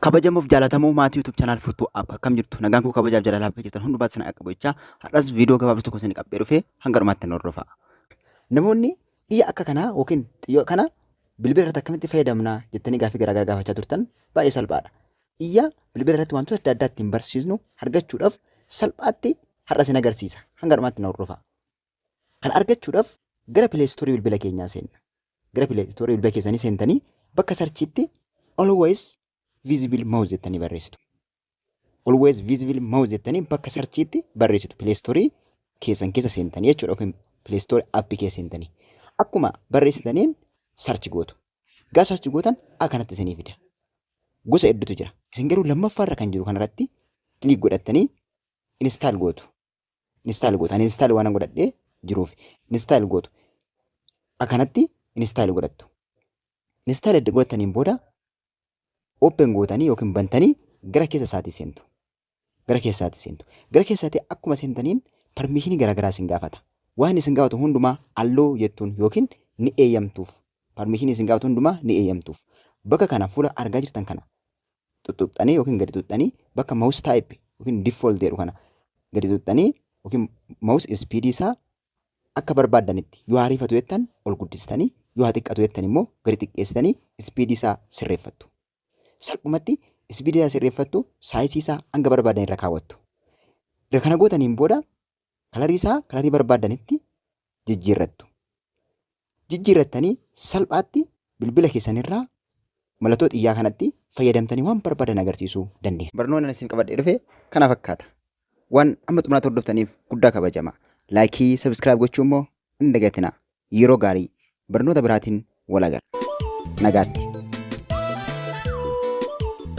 kabajamuuf jaalatamoo maatii YouTube channel furtuu app akkam jirtu nagaan koo kabajaaf jaalala bakka jirtan hundumaatti sana akka bochaa har'as viidiyoo gabaabduu tokko isin qabdee dhufee hanga dhumaatti nu hordofaa. Namoonni xiyya akka kanaa yookiin xiyya kana bilbila irratti akkamitti fayyadamna jettanii gaaffii garaagaraa gaafachaa turtan baay'ee salphaadha. Xiyya bilbila irratti wantoota adda addaa ittiin barsiisnu argachuudhaaf salphaatti har'a isin agarsiisa hanga dhumaatti nu hordofaa. Kana argachuudhaf gara play store bilbila keenyaa seenna. Gara play store bilbila keessanii seentanii bakka sarchiitti always visible mouse jettanii barreessitu. Always visible mouse jettanii bakka sarchiitti barreessitu play store keessan keessa seentanii jechuudha yookiin play store app keessa seentanii. Akkuma barreessitaniin sarchi gootu. Gaaf sarchi gootan akkanatti isinii fida. Gosa hedduutu jira. Isin garuu lammaffaa irra kan jiru kanarratti click godhattanii install gootu. install gootu ani install waan godhadhee jiruuf install gootu akkanatti install godhattu install edda godhattaniin booda open gootanii yookiin bantanii gara keessa isaatii seentu gara keessa isaatii seentu gara keessa isaatii akkuma seentaniin permishinii garaagaraa isin gaafata waan isin gaafatu hundumaa alloo jettuun yookiin ni eeyyamtuuf permishinii isin gaafatu hundumaa ni eeyyamtuuf bakka kana fuula argaa jirtan kana xuxxuxxanii yookiin gadi xuxxanii bakka mouse type yookiin default jedhu kana gadi xuxxanii yookiin mouse speed isaa akka barbaaddanitti yoo hariifatu jettan ol guddistanii yoo haa xiqqatu jettan immoo gadi xiqqeessitanii speed isaa sirreeffattu. Salphumatti speed isaa sirreeffattu saayisii isaa hanga barbaadan irra kaawwattu. Erga kana gootaniin booda kalarii isaa kalarii barbaaddanitti jijjiirrattu. Jijjiirrattanii salphaatti bilbila keessanirraa mallattoo xiyyaa kanatti fayyadamtanii waan barbaadan agarsiisuu dandeessu. Barnoonni isin qabadhee dhufe kana fakkaata. Waan amma xumuraatti hordoftaniif guddaa kabajama. Laayikii, sabiskiraayib gochuu immoo hin dagatinaa. Yeroo gaarii barnoota biraatiin wal agarra. Nagaatti.